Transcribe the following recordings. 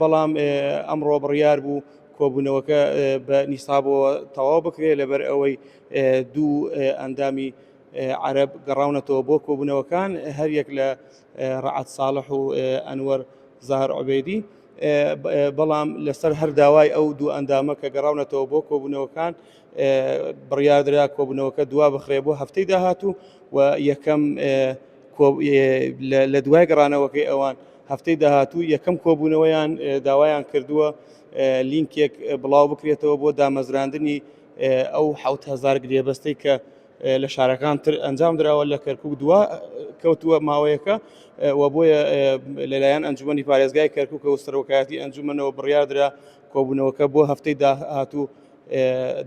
بەڵام ئەمڕۆ بڕیار بوو کۆبوونەوەکە بە نیسابەوە تەواو بکرێت لەبەر ئەوەی دوو ئەندامی عرب گەڕاونەتەوە بۆ کۆبوونەوەکان هەریەک لە ڕعات ساڵح و ئەنوەر زار عبێدی بەڵام لەسەر هەر داوای ئەو دوو ئەندامە کە گەڕاونەتەوە بۆ کۆبوونەوەکان بڕیاردرا کۆبوونەوەکە دوا بخرێ بۆ هەفتەی داهاتوو و یەکەم لە دوای گەڕانەوەکەی ئەوان هەفتەی داهاتوو یەکەم کۆبوونەوەیان داوایان کردووە لینکێک بڵاو بکرێتەوە بۆ دامەزراندنی ئەو حوتهزار گرێبەستەی کە لە شارەکان تر ئەنجام دراوە لە کەرکک دووە کەوتووە ماوەیەەکە و بۆیە لەلایەن ئەنجومی پارێزگای کەرکک و سەرۆکایەتی ئەنجومەنەوە بڕیادرا کۆبوونەوەکە بۆ هەفتەی داهاتوو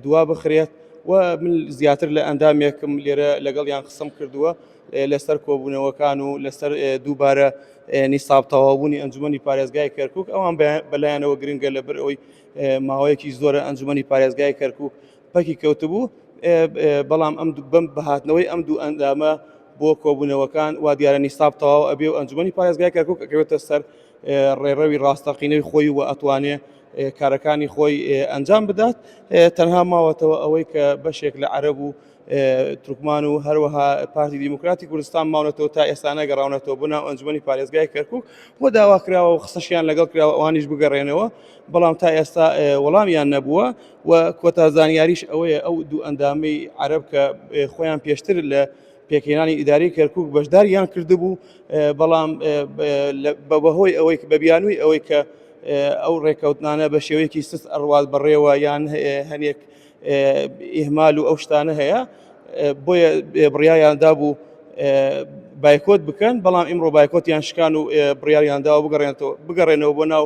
دوا بخرێت و من زیاتر لە ئەندامێکم لێرە لەگەڵ یان قسم کردووە لەسەر کۆبوونەوەکان و لەسەر دووبارە نیساب تەواوبوونی ئەنجومی پارێزگای کەرکک ئەوان بەلایەنەوە گرنگە لەبەر ئەوی ماوەیەکی زۆرە ئەنجومی پارێزگای کەرکک پەکی کەوتبوو بەڵام ئەم بەم بەهاتنەوەی ئەم دوو ئەندامە بۆ کۆبوونەوەکان وا دیارە نیساب تەواو ئەبێ و ئەنجومی پارێزگای کەرکک ئەکەوێتە سەر ڕێڕەوی ڕاستەقینەی خۆی و ئەتوانێ کارەکانی خۆی ئەنجام بدات تەنها ماوەتەوە ئەوەی کە بەشێک لە عەرب و ترکمان و هەروەها پارتی دیموکراتی کوردستان ماونەتەوە تا ئێستانە گەڕاونەتەوە بۆ ناو ئەنجومی پارێزگای کەرکک بۆ داوا کراوە و قسەشیان لەگەڵ کراوە ئەوانیش بگەڕێنەوە بەڵام تا ئێستا وەڵامیان نەبووە و کۆتا زانیاریش ئەوەیە ئەو دوو ئەندامی عەرب کە خۆیان پێشتر لە پێکهێنانی ئیدارەی کەرکک بەشداریان کردبوو بەڵام بەهۆی ئەوەی بە بیانووی ئەوەی کە ئەو ڕێککەوتنانە بە شێوەیەکی سست ئەڕوات بەڕێوە یان هەنێک ئیهمال و ئەو شتانە هەیە بۆیە بڕیاریاندا بوو بایکۆت بکەن بەڵام ئیمڕۆ بایکۆتیان شکان و بڕیاریانداوە بگەڕێنەوە بگەڕێنەوە بۆ ناو